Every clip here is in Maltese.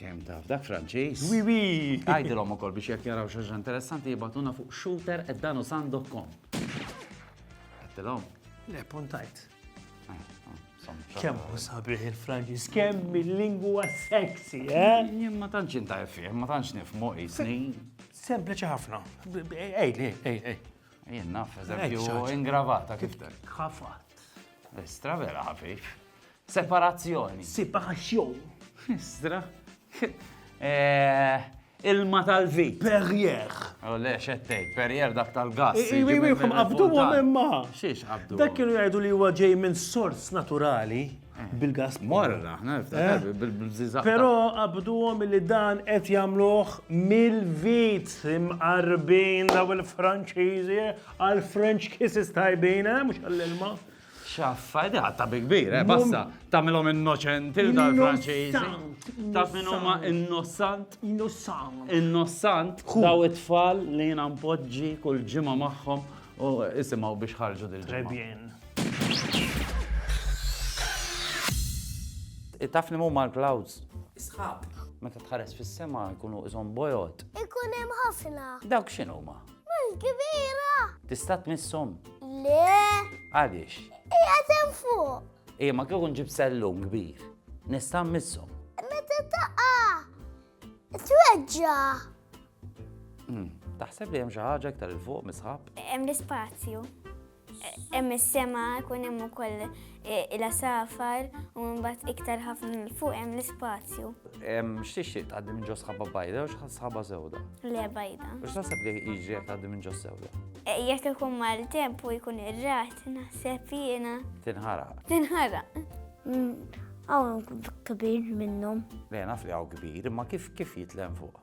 Kemm taf, dak Franċiż. Wi wi! Għajdilhom ukoll biex jekk jaraw xi interessanti jibatuna fuq shooter at danusan.com. Għajdilhom? Le, puntajt. Ah, ah, kemm u sabiħ il-Franċiż, kemm il-lingwa sexy, eh? Jien ma tantx inta fih, ma tantx nifmu isni. Sempliċi ħafna. Ej, ej, ej, ej. Jien naf, eżempju, ingravata kif tek. Ħafat. Estra vera ħafif. Separazzjoni. Separazzjon. Istra. Eh, ilma tal-vit. Perrier. U le, xettej, perrier dak tal-gas. Iwi, iwi, kum qabdu għom imma. Xiex qabdu. Dak kienu jgħidu li huwa ġej minn sors naturali eh. bil-gas. Morra, eh. bil-bżizaq. Pero qabdu għom li dan qed jamluħ mill-vit imqarbin daw il-Franċiżi għal-French kisses tajbina, mux għall-ilma. Xaffa, da, ta' bi kbir, eh, basta, tamilhom innoċenti dal-Franċiżi. Ta' min huma innossant? Innossant. Innossant, daw it-tfal li jiena mpoġġi kull ġimgħa magħhom u isimgħu biex ħarġu dil Trebjen. Taf li huma l-clouds? Isħab. Meta tħares fis-sema jkunu iżhom bojot. Ikun hemm ħafna. Dawk x'inhuma? Mhux kbira! Tista' tmisshom? Le! Għaliex? Hija sem fuq! Ija ma kieku nġib sellum kbir. Nista' mmisshom. Meta taqa! Tweġġa! Hmm, taħseb li hemm xi ħaġa iktar il fuq misħab? Hemm l-ispazju. Hemm is-sema, jkun hemm ukoll eh, il-asafar u mbagħad iktar ħafna l fuq hemm l-ispazju. X'tixtieq tgħaddi minn ġo sħaba bajda u sħaba sewda? Le bajda. U x'taħseb li jiġri jekk tgħaddi minn ġo sewda? Eh, jekk ikun mal temp u jkun ir-rat, naħseb jiena. Tinħara. Tinħara. Għaw mm, kabir minnhom. Le naf li għaw kbir, imma kif kif jitlem fuq?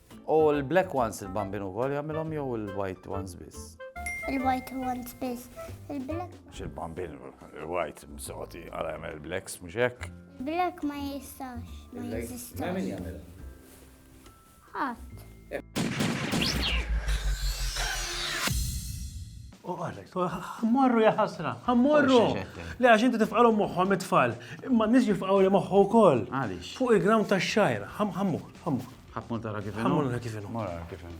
U l-black ones il-bambin ukoll jagħmilhom jew il-white ones biss? Il-white ones biss. Il-black. X'il-bambin il-white msoti għal jagħmel il-blacks mhux hekk? Black ma jistax. Ma jistax. Ma min jagħmel? Ħadd. U għalek, ħammorru ja ħasra, ħammorru. Le għax inti tifqalhom moħħhom it-tfal, imma n-nies jifqgħu li moħħu wkoll. Fuq il-ground tax-xajra, ħammur, ħammur. Ħammur tara kif inhu. Ħammur nara kif inhu. Mara kif inhu.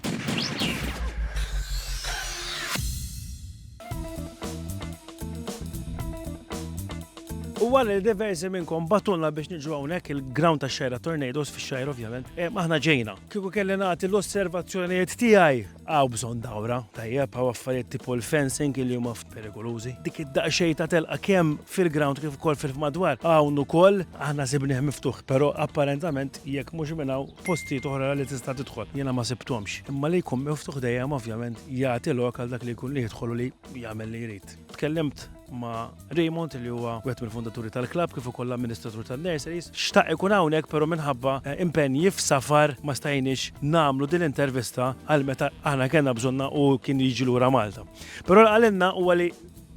U għal li diversi minnkom batulna biex nġu għonek il-ground ta' xajra tornadoes fi xajra ovvjament, eh, maħna ġejna. Kiku kelli nagħti l-osservazzjonijiet tiegħi Hawn bżonn dawra, tajjeb, hawn affarijiet tipo l-fencing li huma ftit perikolużi. Dik id-daqsxejn ta' telqa kemm fil-ground kif ukoll fil-madwar hawn ukoll aħna sibnieh miftuħ, però apparentament jekk mhux minn hawn postijiet oħra li tista' tidħol jiena ma sibthomx. Imma li jkun miftuħ dejjem ovvjament jagħti lok għal dak li jkun li jidħol u li jagħmel li jrid. Tkellimt ma' Raymond li huwa wieħed mill-fondaturi tal-klabb kif ukoll l-amministratur tan-nurseries. Xtaq ikun hawnhekk però minħabba eh, impenji f'safar ma stajniex nagħmlu din l-intervista għal meta aħna kellna bżonna u kien jiġi lura Malta. Però għalinna huwa li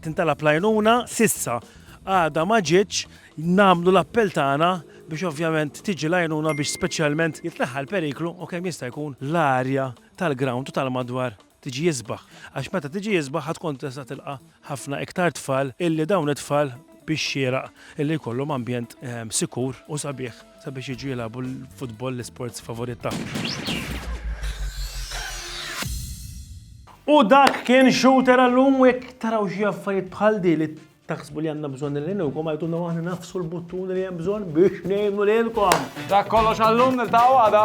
tintala plajnuna sissa għada ma ġietx nagħmlu l-appell tagħna biex ovvjament tiġi lajnuna biex speċjalment jitlaħħa l-periklu u kemm jista' jkun l-arja tal-ground u tal-madwar tiġi isbaħ għax meta tiġi isbaħ ħa tkun tista' tilqa' ħafna iktar tfal illi dawn it-tfal bix-xieraq illi jkollhom ambjent sikur u sabiħ sabiex jiġu jilagħbu l-futbol l-isports favorit tagħhom. U dak kien shooter għallum u jekk taraw xi affarijiet bħal di li taħsbu li għandna bżonn li nilkom għajtuna waħna nafsu l-buttun li hemm bżonn biex ngħinu lilkom. Dak kollox għallum niltaqgħu għada.